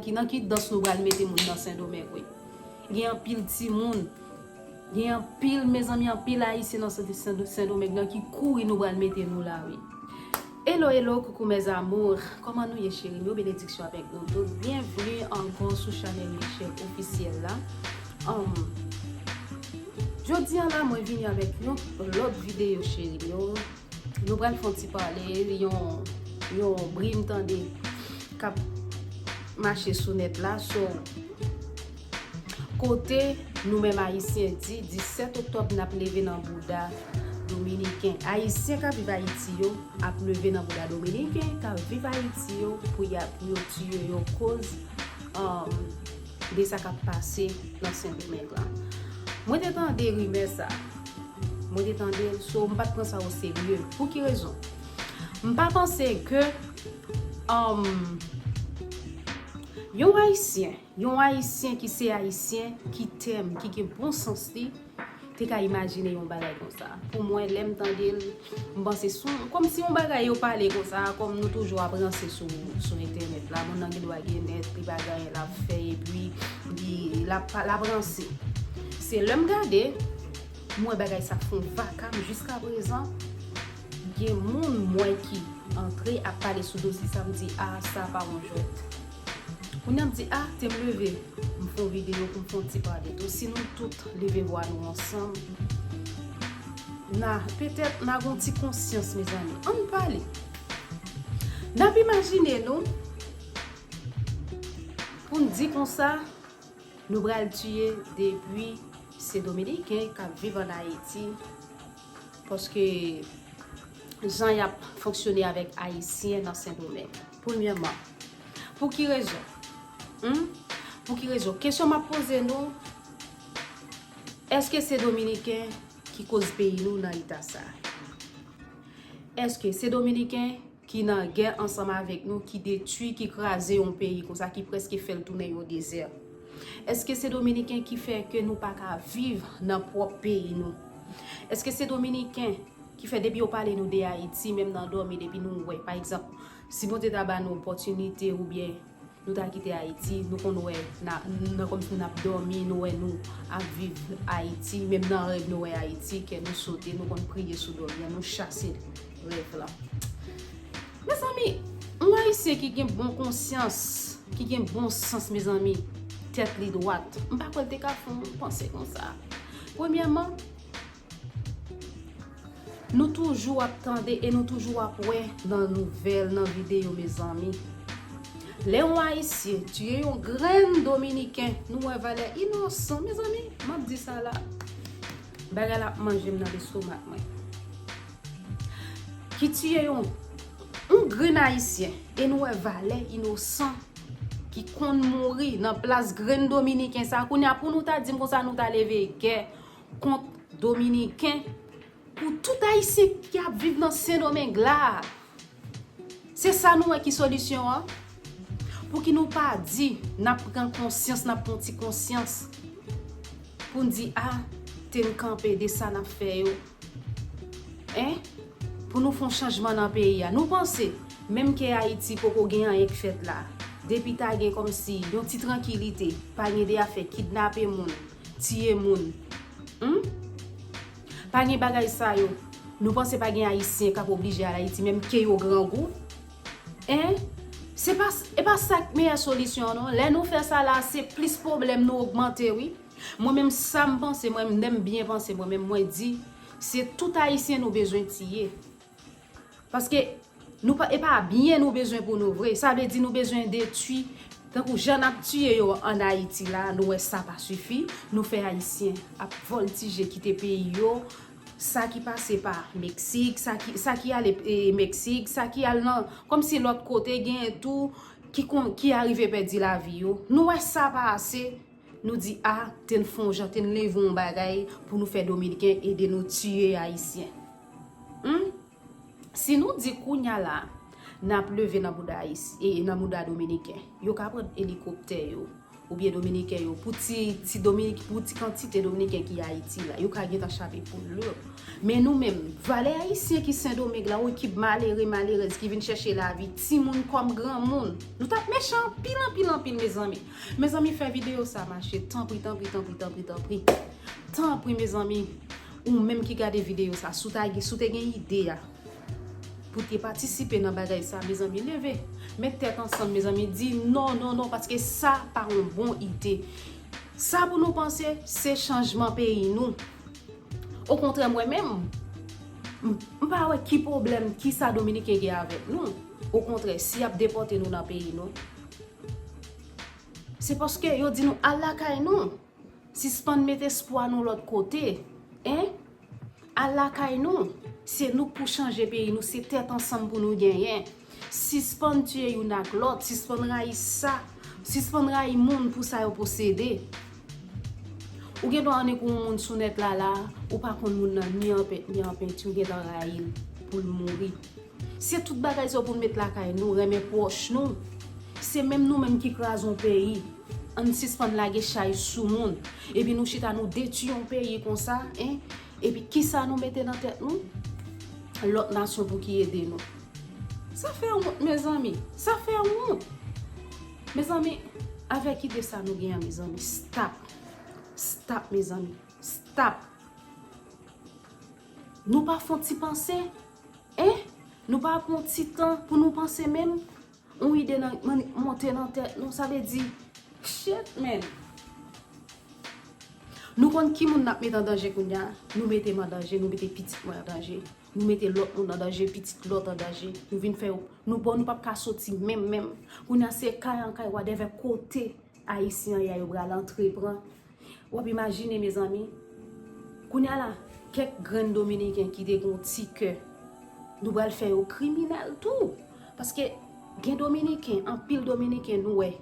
Ki nan ki dans nou pral mete moun nan sendomeng wi gen anpil timoun gen anpil mezanmi anpil ayisyen nan sendomeng nan ki kouri nou pral mete nou la wi Hello hello coucou mes amours kòman nou ye cheri m yo benediksyon avèk nou tout byenvni ankò sou chanèl Michelle officiel la humm jodi an la mwen vini avèk yon lòt videyo cheri m yo Nou pral fon ti pale li yon yon bri m tande kap mache sou net la so kote nou menm ayisyen di 17 oktob nap leve nan bouda dominiken ayisyen kap viv ayiti yo ap leve nan bouda dominiken kap viv ayiti yo pou ya pou yo tiye yo koz um de sa kap pase nan sendomeng lan mwen te tande rimè sa. Mwen te tande l so m pa t pran sa oserye. Pou ki rezon? M pa panse ke yon Ayisyen, yon Ayisyen ki se Ayisyen ki tèm, ki gen bon sans li, te ka imajine yon bagay konsa. Pou mwen, lè m tande l, m panse sou kòm si yon bagay yo pale konsa, kòm nou toujou ap ranse sou entènèt la. Moun nan gen dwa gen nèt, li pa gen anyen l ap fè epi li, l ap ranse. Se lè m gade. M wè bagay sa fon vakam jiskaprezan gen moun m wè ki antre ap pale sou dosye sa m di a sa pa yon jwèt kounya m di a te m leve m fon videyo pou m fon ti pale tou si nou tout leve vwa nou ansanm na petèt na gon ti konsyans mezanmi ann pale nap imajine nou pou n di konsa. Nou pral tiye depi se dominiken kap viv an ayiti paske jan yap fonksyone avèk ayisyen nan sendomeng premyèman pou ki rezon humm pou ki rezon kesyon map poze nou eske se dominiken ki koz peyi nou nan eta sa eske se dominiken ki nan gè ansanm avèk nou, ki detui, ki kraze yon peyi konsa, ki preske fèl tounen yon dezè. Eske se dominiken ki fè ke nou pa ka viv nan pwòp peyi nou? Eske se dominiken ki fè depi yo pale nou de Ayiti menm nan dòmi depi nou wè pa egzanp si Bondye ta ba nou opòtinite oubyen Nou ta kite Ayiti, nou konn wè nan kòm si nap dòmi nou wè nou ap viv Ayiti, menm nan rèv nou wè Ayiti, kè nou sote, nou konn priye sou dòmi an, nou chase rèv la. Mezanmi, yon Ayisyen ki gen bon konsyans, ki gen bon sans mezanmi, tèt li dwat, m pa kwè l te ka fè yon panse konsa. Premyèman, Nou toujou ap tande e nou toujou ap wè nan nouvèl, nan videyo mezanmi. Lè yon ayisyen tiye yon grenn dominiken, nou wè valè inosan mezanmi. M ap di sa la, bagay la ap manje m nan lestomak mwen. Ki tiye yon grenn ayisyen e nou wè valè inosan ki konn mouri nan plas grenn dominiken sa. Kounye a pou nou ta di m konsa nou ta leve gè. kont dominiken pou tout ayisyen ki ap viv nan sendomeng la se sa nou wè ki solisyon an pou ki nou pa di nap pran konsyans nap pran ti konsyans pou n di a te n kanpe de sa nap fè yo e pou nou fon chanjman nan peyi a nou panse menm ke ayiti poko gen anyen k fèt la depi ta gen kòm si yon ti trankilite pa gen de afè kidnape moun. Tiye moun humm pa gen bagay sa yo nou panse pa gen ayisyen kap oblije al ayiti menm ke yo grangou hein se pa e pa sa ki meyè solisyon an non lè nou fè sa la se plis pwoblèm nou ogmante wi mwen menm sam panse mwen menm lèm byen panse mwen menm mwen di se tout ayisyen nou bezwen tiye. Paske nou pa e pa byen nou bezwen pou nou vre. Sa vle di nou bezwen detui. Tankou jan n ap tiye yo an Ayiti la, nou wè sa pa sifi. Nou fè Ayisyen ap vòltije kite peyi yo. Sa ki pase pa Meksik, sa ki sa ki ale e Meksik, sa ki al nan kòm si lòt kote genyen tou ki kon ki arive pèdi lavi yo. Nou wè sa pa ase. Nou di a te n fon jan te n leve yon bagay pou nou fè dominiken ede nou tiye ayisyen humm si nou di kounya la nap leve nan bouda ayisyen e nan bouda dominiken yo ka pran elikoptè yo oubyen dominiken yo pou ti ti dominik pou ti kantite dominiken ki ayiti la yo ka gentan chape poul yo men nou menm valè ayisyen ki sendomeng la ou ki malere malerèz ki vin chèche lavi timoun kòm granmoun nou tap mechan anpil anpil anpil mezanmi. Mezanmi fè video sa mache tanpri tanpri tanpri tanpri tanpri tanpri mezanmi ou menm ki gade video sa si w ta gen si w te gen ide a pou te patisipe nan bagay sa mezanmi leve met tèt ansanm mezanmi di non non non paske sa pa yon bon ide sa pou nou panse se chanjman peyi nou okontrè mwen menm m pa wè ki pwoblèm ki sa dominiken gen avèk nou okontrè si y ap depòte nou nan peyi nou. Se paske yo di nou al lakay nou. Sispann met espwa nou lòt kote. Hein! Al lakay nou. Se nou k pou chanje peyi nou. Se tèt ansanm pou nou genyen. Sispann tiye youn ak lòt. Sispann rayi sa. Sispann rayi moun pou sa yo posede. Ou gen dwa annik yon moun sou nèt la la a, ou pa konn moun nan ni an pent ni an penti, ou gen tan rayi l pou l mouri. Se tout bagay sa yo pou nou met lakay nou, renmen pwòch nou. Se menm nou menm ki kraze yon peyi. Ann sispann lage chay sou moun. Epi nou chita nou detui yon peyi konsa en. Epi kisa nou mete nan tèt nou? Lòt nasyon pou ki ede nou. Sa fè wont mezanmi. Sa fè wont. Mezanmi, avèk ide sa nou gen an mezanmi. Stop. Stop mezanmi. Stop. Nou pa fon ti panse? Hein? Nou pa pran yon ti tan pou nou panse menm? Yon ide nan monte nan tèt nou, sa vle di, Shit man! Nou konn ki moun n ap met an danje kounye a? Nou mete m an danje, nou mete pitit mwen an danje, nou mete lòt moun an danje, pitit lòt an danje. Nou vin fè yo, nou bon nou p ap ka soti menm menm. Kounye a se kay an kay, wadèvè kote Ayisyen an ye a yo pral antre pran. Wap imajine mezanmi, kounya la kèk grenn dominiken ki te gen yon ti kè, nou pral fè yo kriminèl tou, paske gen dominiken, anpil dominiken nou wè,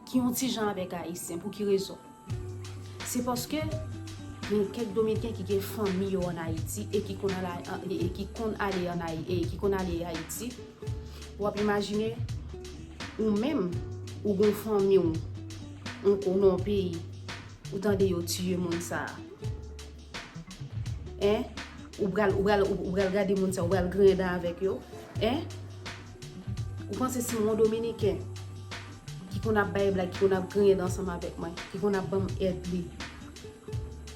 ki yon ti jan avèk ayisyen, pou ki rezon? Se paske gen kèk dominiken ki gen fanmi yo an Ayiti e ki konn al e ki konn ale an Ayi e ki konn ale Ayiti, wap imajine ou menm ou gen yon fanmi w. Ou konnen yon peyi ou tande yo tiye moun sa a en ou pral ou pral ou pral gade moun sa ou pral griyen dan avèk yo en ou panse si yon dominiken ki konn ap bay blag ki konn ap griyen dan ansanm avèk mwen ki konn ap banm èd li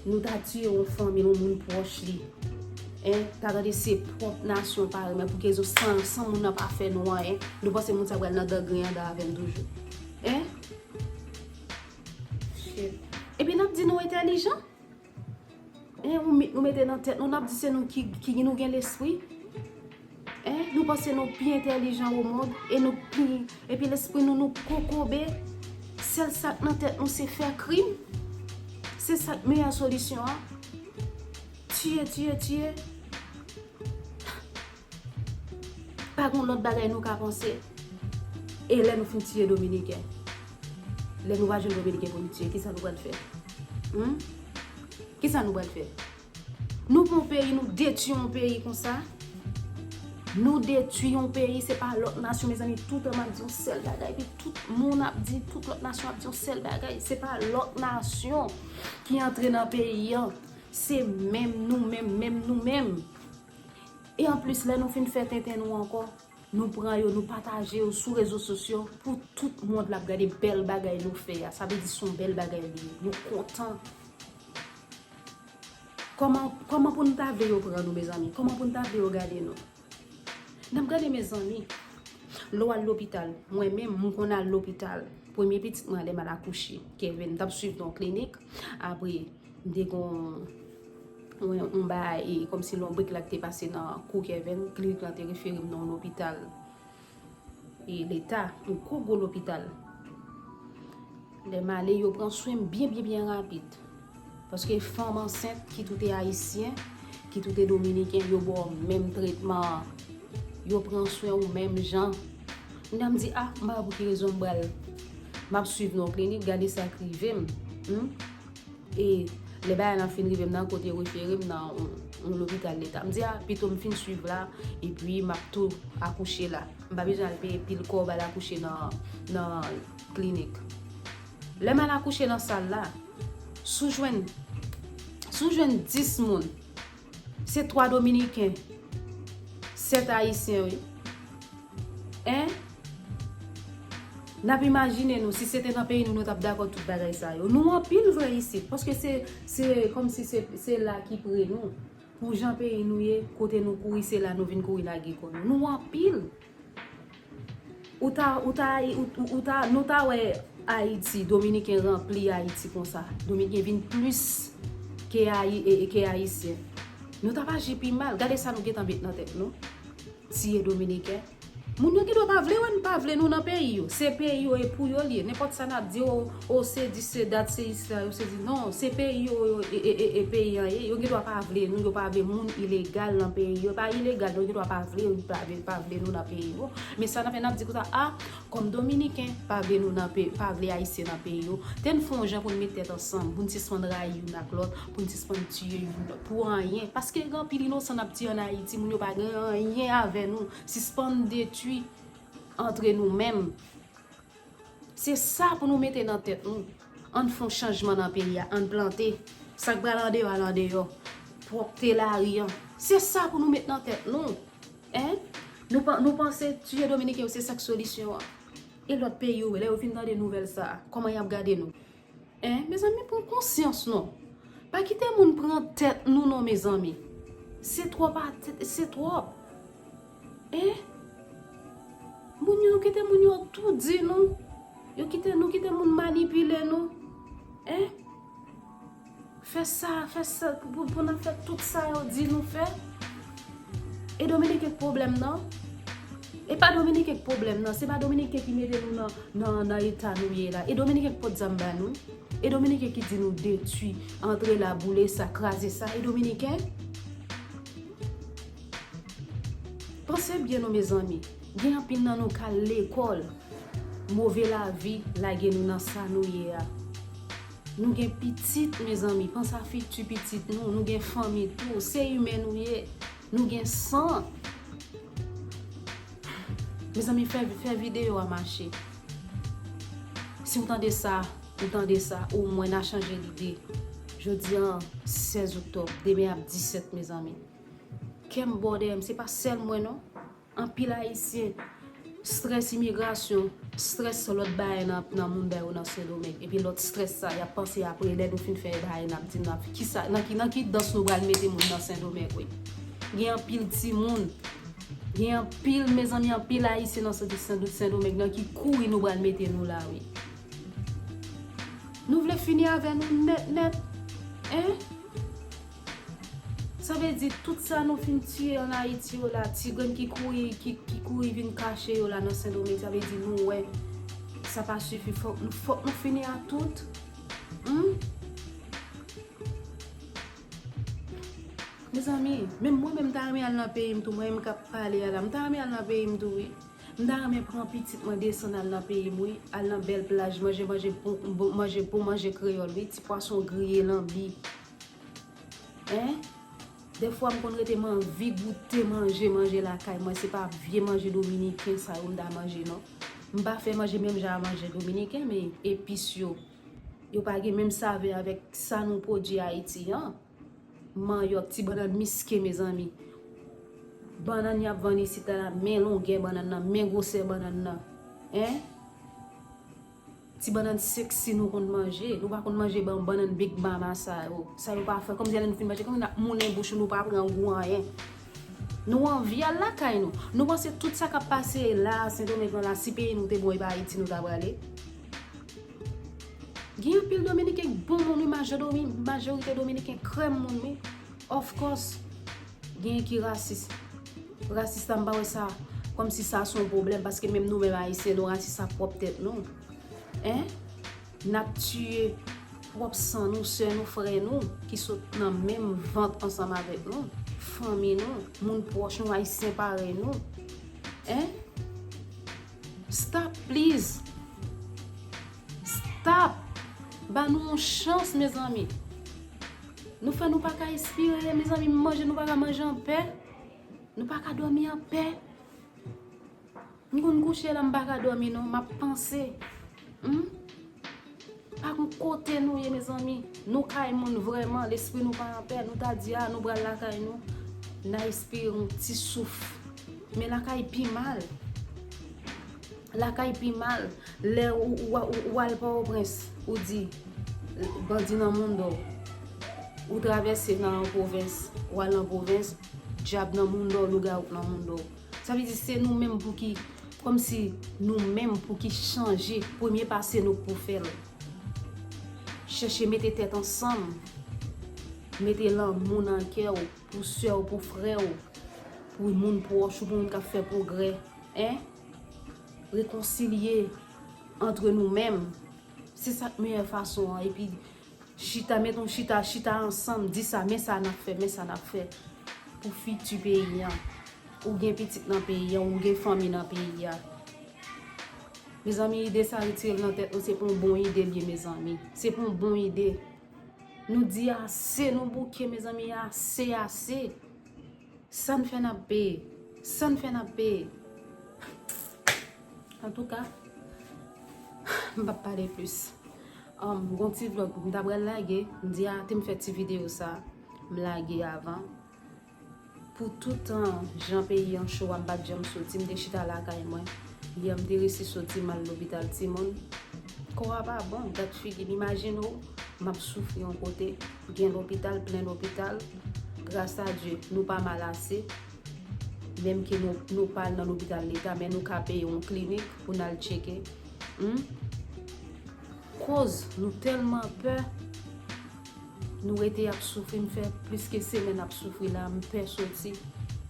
nou ta tiye yon fanmi yon moun pwòch li en ta gade se pwòp nasyon pa renmen pou kèzou san moun nan pa fè nou anyen nou panse moun sa pral nan dan griyen dan avèm toujou en. Epi nap di nou entelijan? Eh yon mit nou mete nan tèt nou nap di se nou ki ki nou gen lespri? Eh nou panse nou pi entelijan o mond e nou pi epi lespri nou nou kokobe sèl sak nan tèt nou se fè krim? Se sak meyè solisyon an? Tiye tiye tiye? Pa gen yon lòt bagay nou ka panse. E lè nou fin tiye dominiken? Lè nou pa jwenn dominiken pou nou tiye, ki sa nou pral fè? Hum? Ki sa nou pral fè? Nou pran yon peyi, nou detui yon peyi konsa? Nou detui yon peyi, se pa lòt nasyon, mezanmi, tout an m ap di yon sèl bagay, epi tout moun ap di, tout lòt nasyon ap di yon sèl bagay, se pa lòt nasyon ki antre nan peyi an, se menm nou menm, menm nou menm E anplis lè nou fin fè tenten nou ankò, nou pran yo, nou pataje yo sou rezo sosyo pou tout mond la ap gade bèl bagay nou fè a. Sa vle di son bèl bagay li ye. Nou kontan. Kòman, kòman pou nou ta vle yo pran nou mezanmi? Kòman pou nou ta vle yo gade nou? N ap gade mezanmi. Lè w al lopital, mwen menm m konn al lopital. Premye pitit mwen lè m al akouche, Kevin, m t ap swiv nan yon klinik. Apre. M te konn wè yon bagay e kòmsi lonbrik la ki te pase nan kou Kevin, klinik lan te refere m nan yon lopital e leta, yon gwo gwo lopital. Lè m ale yo pran swen m byen byen byen rapid. Paske fanm ansent kit ou te ayisyen, kit ou te dominiken yo ba w menm tretman an. Yo pran swen ou menm jan. Kounye a m di a, m pa wè pou ki rezon m pral, m ap swiv nan yon klinik gade sa k rive m. E lè bagay lan fin rive m nan kote yo refere m nan yon lopital leta. M di a, pito m fin swiv la, epi m ap tou akouche la. M pa bezwen al peye pil kòb al akouche nan klinik. Lè m al akouche nan sal la, si w jwenn 10 moun Se 3 dominiken 7 ayisyen wi en nap imajine nou si sete nan peyi nou nou tap dakò tout bagay sa yo nou anpil vre isit paske se se komsi se se la ki pre nou pou jan peyi nou ye kote nou kouri se la nou vin kouri lage kò nou nou anpil. Ou ta, ou ta, ou ta, nou ta wè Ayiti, Dominiken ranpli Ayiti konsa. Dominiken vin plis ke Ayi, ke Ayisyen. Nou t ap aji pi mal. Gade sa nou gen tan met nan tèt nou. Tiye Dominiken. Moun yo gen dwa pa vle wè n, pa vle nou nan peyi yo. Se peyi yo e pou yo l ye. Nenpòt sa n ap di yo. Oh se di se dat se isla yo se di non se peyi yo yo e peyi an ye yo gen dwa pa vle nou yo pa vle moun ilegal nan peyi yo pa ilegal yo gen dwa pa vle yo pa vle pa vle nou nan peyi yo men sa nap fè nap di konsa a kòm dominiken pa vle nou nan peyi pa vle ayisyen nan peyi yo tenn fon jan poun met tèt ansanm poun sispann rayi youn ak lòt poun sispann tiye youn lòt pou anyen paske gen anpil inosan nap tiye an ayiti moun yo pa gen anyen avè nou sispann detwi antre nou menm. Se sa pou nou mete nan tèt nou, ann fon chanjman nan peyi a, ann plante, sa k pral andeyò al andeyò, pwòpte lari an, se sa pou nou met nan tèt nou, en, nou panse tiye dominiken yo se sa k solisyon an, e lòt peyi yo lè yo fin tande nouvèl sa a kòman y ap gade nou? Eh mezanmi pran konsyans non. Pa kite moun pran tèt nou non mezanmi. Se twòp atis se twòp. Eh moun yo nou kite moun yo tou di nou. Yo kite nou kite moun manipile nou. Eh. Fè sa, fè sa, pou nan fè tout sa yo di nou fè. E Dominiken k pwoblèm nan? E pa Dominiken k pwoblèm nan? Se pa Dominiken ki mete nou nan eta nou ye la? E Dominiken k pot zam ba nou? E Dominiken ki di nou detui, antre la, boule sa, kraze sa? E Dominiken? Panse byen nou mezanmi, gen anpil nan nou k al lekòl, move lavi lage nou nan sa nou ye a. Nou gen pitit mezanmi pansa fiti pitit nou nou gen fanmi tou se imen nou ye nou gen san mezanmi fè fè video a mache si ou tande sa ou tande sa ou mwen na chanje lide jodi an 16 oktob demen ap 17 mezanmi kèm bo dèyèm se pa sèl mwen non. Anpil ayisyen strès imigrasyon, strès lòt bagay nan mounda yo nan sendomeng epi lòt strès sa yap panse apre lè nou fin fè bagay nap di nap kisa nan ki dans nou pral mete moun nan sendomeng wi gen anpil timoun gen anpil mezanmi anpil ayisyen nan sendomeng nan ki kouri nou pral mete nou la wi nou vle fini avè nou nèt nèt hein. Sa vle di tout sa nou fin tiye an Ayiti yo la, ti grenn ki kouri ki kouri vin kache yo la nan Sendomeng sa vle di nou wè sa pa sifi fòk nou fini ak tout humm. Mezanmi menm mwen menm m ta renmen al nan peyi m tou mwen menm k ap pale a la m ta renmen al nan peyi m tou wi. M ta renmen pran pitit mwen desann al nan peyi m wi, al nan bèl plaj manje manje bon manje kreyòl wi ti pwason griye lanbi. Hein Dè fwa m konn rete m anvi goute manje manje lakay mwen se pa vye manje dominiken sa yo m ta manje non m pa fè manje menm jan a manje dominiken men epis yo yo pa gen menm savè avèk sa nou pwodui ayiti an manyòk ti bannann miske mezanmi bannann y ap vann isit la men longè bannann nan men gwosè bannann nan hein. Ti bannan sexy nou konn manje. Nou pa konn manje bannan big mama sa yo. Sa yo pa fre. Konbyen lè nou fin manje konbyen nap moulen bouch nou nou pa pran gou anyen. Nou anvi al lakay nou. Nou panse tout sa kap pase la a sendomeng lan la si peyi nou te bon epa ayiti nou ta prale. Gen anpil dominiken k bon moun wi majorite dominiken krèm moun wi. Of course gen ki rasis. Rasis la m pa wè sa kòm si sa son pwoblèm paske menm nou menm ayisyen nou rasis ak pwòp tèt nou en nap tiye pwòp san nou sè nou frè nou ki sot nan menm vant ansanm avèk nou fanmi nou moun pwòch nou ayisyen parèy nou en stop pliz stop ba nou yon chans mezanmi nou fè nou pa ka espire mezanmi manje nou pa ka manje anpè. Nou pa ka dòmi an pè. M konn kouche la m pa ka dòmi non. M ap panse. Humm. Pa gon kote nou ye mezanmi. Nou kay moun vrèman. Lespri nou pa an pè. Nou ta di a nou pral lakay nou. N a espire yon ti souf. Men lakay pi mal. Lakay pi mal lè ou al Pòtoprens ou di bandi nan moundò ou travèse nan pwovens ou al nan pwovens dyab nan moundò lougawou nan moundò sa vle di se nou menm pou ki kòm si nou menm pou ki chanje premye pa se nou k pou fè l chèche mete tèt ansanm mete lanmou nan kè ou pou sè ou pou frè ou pou moun pwòch ou pou moun k ap fè pwogrè. Rekonsilye antre nou menm. Se sa k meyè fason an. Epi chita, met yon chita, chita ansanm, di sa, men sa n ap fè, men sa n ap fè pou fiti peyi an. Ou gen pitit nan peyi an, ou gen fanmi nan peyi an. Mezanmi ide sa retire l nan tèt nou, se pa yon bon ide l ye mezanmi. Se pa yon bon ide. Nou di ase, nou bouke mezanmi, ase, ase. Sa n fè n ap peye. Sa n fè n ap peye. Antouka, m p ap pale plis. Gon ti vlog m ta pral lage. M di a te m fè ti videyo sa a. M lage avan. Pou tout jan peyi an cho a m pa t janm soti. M te chita lakay mwen. Yè m te resi soti m al lopital timoun. Kò a pa bon. Dat figi m imajine w m ap soufri yon kote. Gen lopital, plen lopital. Gras a Dye, nou pa mal ase. Menm ke nou pa al nan lopital leta, men nou ka peye yon klinik pou n al tcheke. Koz nou tèlman pè, nou rete ap soufri. M fè plis ke semenn ap soufri la, m pè soti.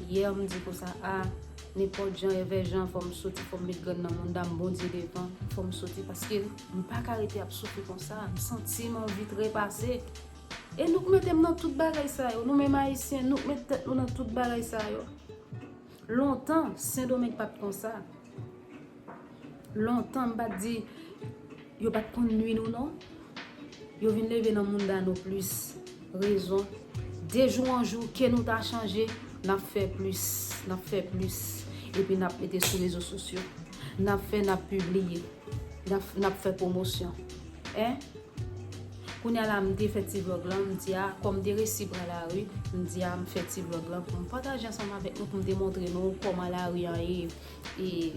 Yè m di konsa, a, nenpòt jan, evè jan, fò m soti, fò m met grenn nan mouda m, Bondye devan, fò m soti. Paske. M paka rete ap soufri konsa, m santi m anvi trepase. E nou k mete m nan tout bagay sa yo, nou menm Ayisyen, nou k met tèt nou nan tout bagay sa yo. Lontan, Sendomeng pa t konsa. Lontan, m pa t di, yo pa t konn nwi nou non. Yo vin leve nan mounda nou plis. Rezon, de jou an jou, ke nou ta chanje, n ap fè plis, n ap fè plis, epi n ap mete sou rezo sosyo. N ap fè, n ap pibliye, n ap fè pwomosyon. E, kounye a la m te fè ti vlog lan, m di a, kòm m te resi pran lari, m di a m fè ti vlog lan pou m pataje ansanm avèk nou, pou m te montre nou kòman lari an ye. e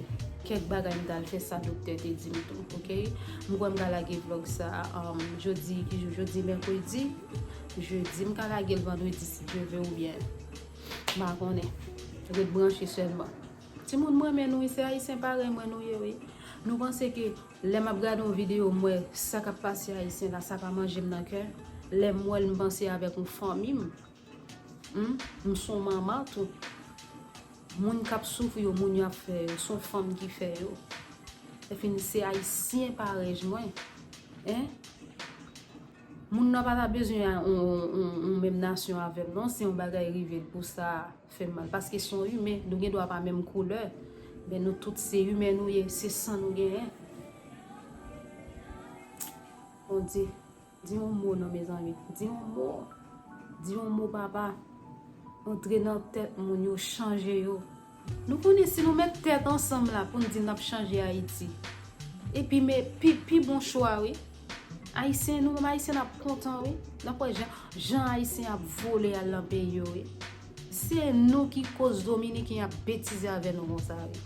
kèk bagay m tal fè sa doktè te dim tou ok m kwè m ka lage vlog sa jodi ki jou jodi mèkredi jedi m ka lage l vandredi si Dye vle ou byen m pa konnen ret branche sèlman timoun m renmen nou wi se ayisyen parèy mwen nou ye wi nou panse ke lè m ap gade yon videyo m wè sa k ap pase ayisyen la sa pa manje m nan kè lè m wè l m panse avèk yon fanmi m Humm m son manman tou. Moun kap soufri yo moun yo ap fè yo son fanm ki fè yo efin se ayisyen parèj mwen hein moun nan pata bezwen yon menm nasyon avèm non si yon bagay rivel pou sa fèm mal paske son imen nou gen dwa pa menm koulè men nou tout se imen nou ye se san nou genyen Bondye. Di yon mo non mezanmi. Di yon mo. Di yon mo papa. Antre nan tèt moun yo chanje yo. Nou konnen si nou met tèt ansanm la pou nou di nap chanje Haiti. Epi me pi bon chwa wi. Ayisyen nou menm ayisyen nap kontan wi. Nap wè jan ayisyen ap vole al nan peyi yo wi. Se nou ki koz dominiken ap betize avè nou konsa wi.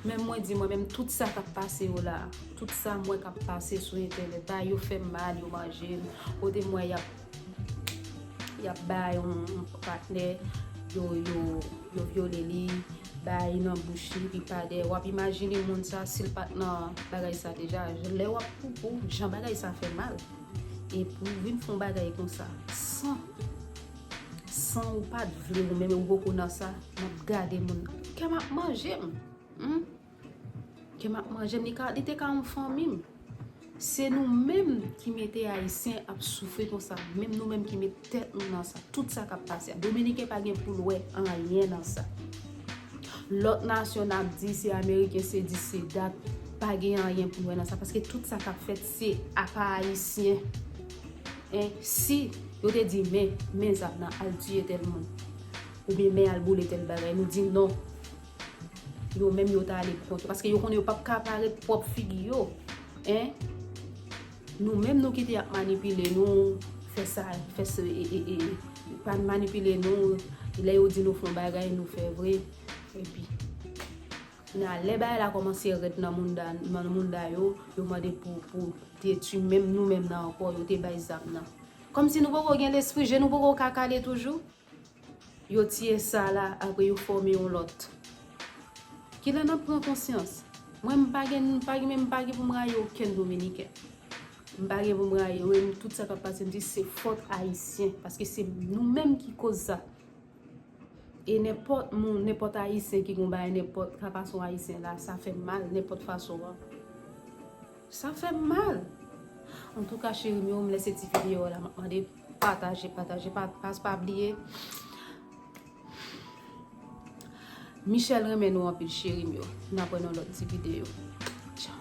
Men mwen di mwen menm tout sa kap pase yo la, tout sa m wè kap pase sou entènèt la, yo fè m mal, yo manje m, kote m wè yap yap bay yon patnè yo yo yo vyole li, bay nan bouch li pi pa dèyè, wap imajine moun sa si l pat nan bagay sa deja, lè wap poupou jan bagay sa fè mal, epi w vin fon bagay konsa san San ou pat vle ou menm ou poko nan sa map gade moun kèm ap manjem humm kèm ap manjem li ka li te ka yon fanmim se nou menm ki mete ayisyen ap soufri konsa menm nou menm ki met tèt nou nan sa tout sa kap pase a dominiken pa gen poul wè anyen nan sa lòt nasyon nap di se ameriken se dis se dat pa gen anyen pou wè nan sa paske tout sa kap fèt se apa ayisyen E si yo te di men, men zam nan al tiye tèl moun, oubyen men al boule tèl bagay, nou di non, yo menm yo ta ale pou kont yo, paske yo konnen yo pap ka pare pwòp figi yo, en, nou menm nou kite ap manipile nou, fè sa, fè se, e, e, e, pa manipile nou, lè yo di nou fon bagay nou fè vre, epi. Men a lè bagay la komanse red nan mounda nan mounda yo yo mande pou pou detwi menm nou menm nan ankò yo te bay zam nan kòm si nou poko gen lespri je nou poko ka kale toujou yo tiye sa la apre yo fòme yon lòt kilè nap pran konsyans mwen m pa gen m pa gen men m pa gen poum rayi okenn dominiken m pa gen poum rayi yo e m tout sa kap pase m di se fòt ayisyen paske se nou menm ki koz sa. E nenpòt moun, nenpòt Ayisyen ki gon bagay nenpòt ka fason Ayisyen la, sa fè m mal nenpòt fason an. Sa fè m mal. Antouka cheri m yo, m lese ti videyo a la m ap mande pataje, pataje, pataje, pa bliye. Michel renmen nou anpil cheri m yo. N ap wè nan lòt ti videyo. Tchao.